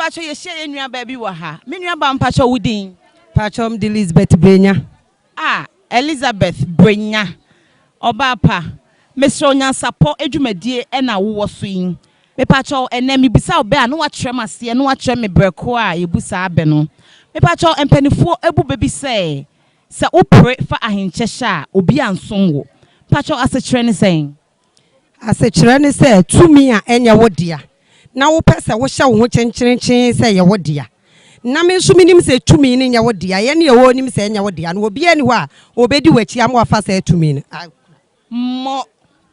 mpakyɛ yɛhyia yɛ nua baabi wɔ ha me nua ba mpakyɛ wo din mpakyɛ m de elizabeth brenya a elizabeth brenya ɔbaa pa mesrɛ onyansapɔ adwumadie ɛna wowɔ so yi mepakyɛ ɛnɛ mebisa wo bɛ a na wakyerɛ m aseɛ na wakyerɛ me berɛ ko a yɛbu saa bɛ no mepakyɛ mpanifoɔ abu bɛ bi sɛ Sɛ wopere fa ahenkyɛ hyɛ a, obi ansom wo. Mpakyɛw, asekyerɛ ne sɛn? Asekyerɛ ne sɛ, tumi a ɛnyɛ wo dea, na wopɛ sɛ wohyɛ wo ho kyenkyerenkyee sɛ ɛyɛ wo dea. Na me nso menim sɛ tumi no nyɛ wo dea. Yɛne Yehowa nim sɛ ɛnyɛ wo dea, na obiara nni hɔ a obedi w'akyi ama wafa saa tumi no akura. Mmɔ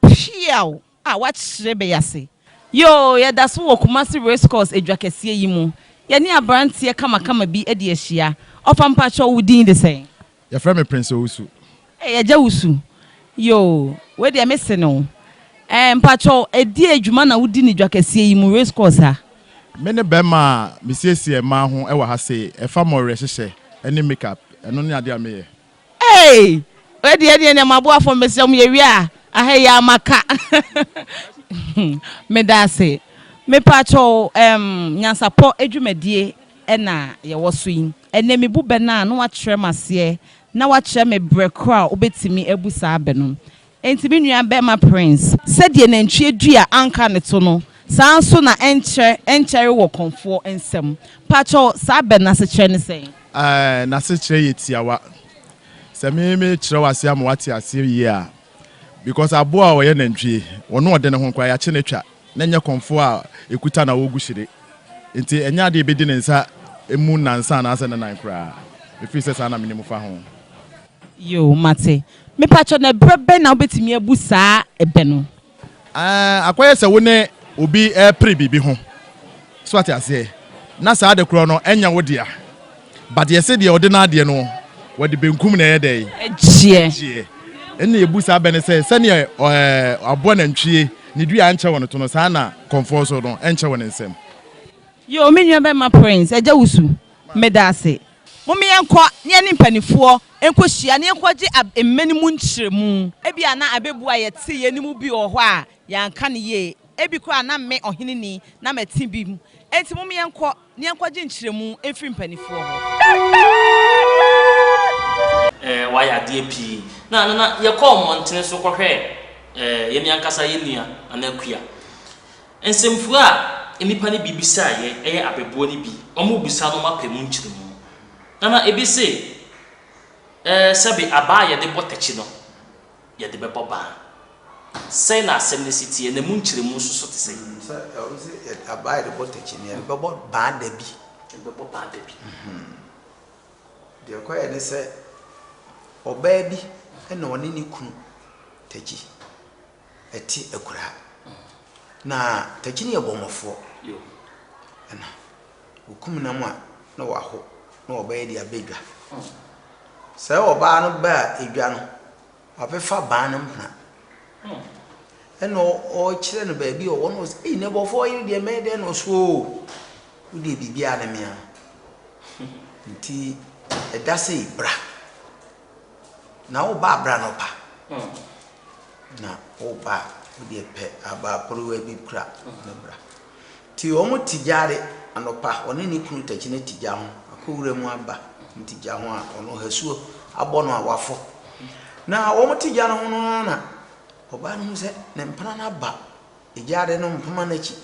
peaw a wɔakyerɛ bɛyɛ ase. Yoo, yɛda so wɔ Kumasi Race Course adwa kɛseɛ yi mu. Yɛne aberanteɛ kamakama bi adi ahyia. Ɔfa mpakyɛw wo din de sɛn? Yɛfrɛ me Prince Owusu. Ei, Agya Wusu. Yoo, wei deɛ me se no. Ɛɛ, mpakyɛw ɛdeɛn dwuma na wodi no dwa kɛseɛ yi mu, race course ha? Me ne bɛrima a mesiesie mmaa ho wɔ ha sei. Ɛfa mɔwerɛhyehyɛ ne make up. Ɛno ne adeɛ a meyɛ. Ei! Wei deɛ ɛneɛ neɛ maboafoɔ mesrɛ mo yɛwie a aha yi ara maka Medase Mepaatwɔ ɛɛm nyansapɔ adwumadie na yɛwɔ so yi ɛnɛ mebu bɛ no a na wakyerɛ me aseɛ na wakyerɛ me brɛ korɔ a wobɛtumi abu saa bɛ no Enti me nua bɛma Prince, sɛdeɛ nantwie dua anka ne to no, saa nso na ɛnkyerɛ ɛnkyɛre wɔ kɔmfoɔ nsam. Pakyɛw, saa bɛ no asekyerɛ ne sɛn? Ae, n'asekyerɛ yɛ tiawa. Sɛ me mekyerɛw aseɛ ama w'ate aseɛ yie a, because aboa a ɔyɛ nantwie, ɔno ɔde ne ho koraa y'akye no twa, na ɛnyɛ kɔmfoɔ a ekuta na ɔgu hyire. Enti ɛnyɛ adeɛ a ebedi ne nsa mu nnansa anaasɛ ne nan koraa, efiri sɛ saa na menim fa ho. Yoo, mate. Mepakyɛ na ɛberɛ bɛn na wobɛtumi abu saa ɛbɛ no? Aah, akɔyɛ sɛ wo ne obi repere biribi ho, so ate aseɛ, na saa ade korɔ no ɛnyɛ wo dea, but yɛse deɛ ɔde n'adeɛ no, wɔde benkum na ɛyɛ dɛn? Ɛgyeɛ. Ɛgyeɛ. Ɛnna yɛbu saa bɛ no sɛ, sɛdeɛ eh, aboa nantwie ne dua nkyɛ wɔn to no, saa na kɔmfoɔ so no nkyɛ wɔn nsam. Yoo, me nua bɛma Prince, agya wusu. Meda ase. Momma yɛnkɔ na yɛne mpanimfoɔ nkɔhyia na yɛnkɔgye ab mmɛ no mu nkyerɛmu. Ebia na abɛbu a yɛtee yei no mu bi wɔ hɔ a yɛanka no yie. Ebi koraa a na me, ɔhene ni, na mate bi mu. Enti momma yɛnkɔ na yɛnkɔgye nkyerɛmu mfiri mpanimfoɔ hɔ. Eh, wayɛ adeɛ pii. Na, na, na yɛkɔɔ mmɔntene so kɔhwɛɛ eh, yɛn ankasa yɛn nua, anaa kua. Nsɛmfua a nnipa no bi bisaa yɛn yɛ abɛboa no bi wɔbisa no ma pɛ mu nkyerɛmu. Nana ebi se, Ɛɛ, sɛbe abaa a yɛde bɔ tɛkyi no, yɛde bɛbɔ baa. Sɛn na asɛm no si teɛ, na emu nkyerɛmu nso so te sɛn? Sɛ ɛwɔ sɛ yɛde abaa a yɛde bɔ tɛkyi no, yɛde bɛbɔ baa da bi. Yɛde bɛbɔ baa da bi. Deɛ ɛkɔeɛ ne sɛ, ɔbaa bi na ɔne ne kunu tɛkyi. ɛte akuraa na takyini yɛ bɔmmɔfoɔ ɛna wɔkum nam a na wɔaho na wɔbɛyɛ de abɛ dwa sɛ ɔbaa no baa edwa no wabɛfa baa no mpena ɛna ɔkyerɛ no baabi ɔwɔ no ɔsɛ ei nɛbɔfoɔ yere deɛ mɛyɛ dɛn na ɔso o wodeɛ biribiara ne mea no nti ɛda sɛ bra Na woba a bra anɔpa. Na woba a wodeɛ pɛ abaa porowa bi kura na bra. Nti wɔn te gya de anɔpa ɔne ne kunu takyi no te gya ho akɔ wura mu aba wɔn te gya ho a ɔno hasuo abɔ no a wafɔ. Na wɔn te gya no ho no ara na ɔbaa no hu sɛ ne mpena no aba gya de no mpoma no akyi.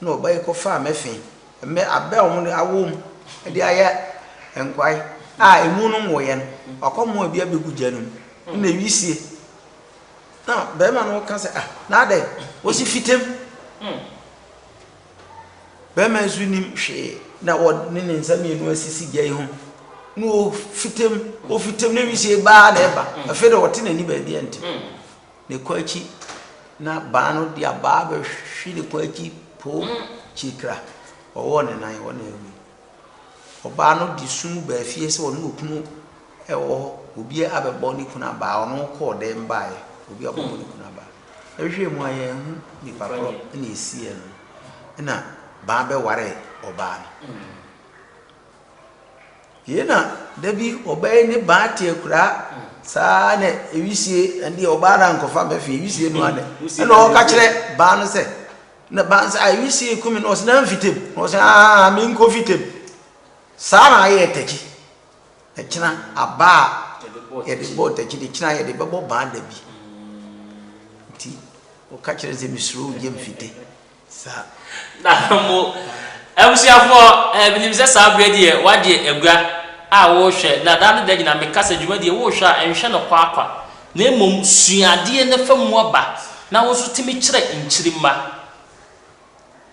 Nna ɔba yi kɔfaa me fee mbɛ aber a wɔdze awoo mu dze ayɛ nkwae a emu no nnwoeɛ no, ɔakɔmoa bi abegu gya no mu. Nna wisie na barima no ka sɛ, ah, n'adɛn? Wɔsi fita mu. Barima yi so nim hwee na wɔde ne nsa mmienu asisi gya yi ho na ɔfita mu, ɔfita mu na wisie baa na ɛba. Afei de ɔte n'ani baabi a nte. ne kɔn akyi na baa no de abaa bɛhwe ne kɔn akyi poo kyirikira. Wɔwɔɔ ne nan hɔ na awui. Ɔbaa no de sum baa fie sɛ ɔne okunu wɔ hɔ, obi abɛbɔ ne kunu abaa, ɔno kɔɔ dɛm baeɛ, obi abɛbɔ ne kunu abaa. Yɛhwehwɛɛ mu a yɛanhu nipa korɔ na ɛsiiɛ no, ɛna baa bɛwaree ɔbaa no. Yei na da bi ɔbɛyɛ ne baa te akuraa saa na ewisie ɛnde ɔbaa na nkɔfa mɛfi ewisie no adɛ ɛna ɔka kyerɛ baa no sɛ na baa no sɛ a ewisie kumi na ɔsɛ na mfitam na ɔsɛ aa me nkɔ fitam saa na ayɛ tɛkyi ɛkyina abaa yɛde bɔ tɛkyi de kyina yɛde bɛbɔ baa da bi nti ɔka kyerɛ sɛ mesuro gye mfite Na mo abusuafoɔ, eh, menim sɛ saa berɛ deɛ woagye agua a worehwɛ, na daa ne da nyinaa meka sɛ dwuma deɛ worehwɛ a nhwɛ no kwa kwa, na mmom sua adeɛ na fa mu aba, na wo nso tumi kyerɛ nkyirimma.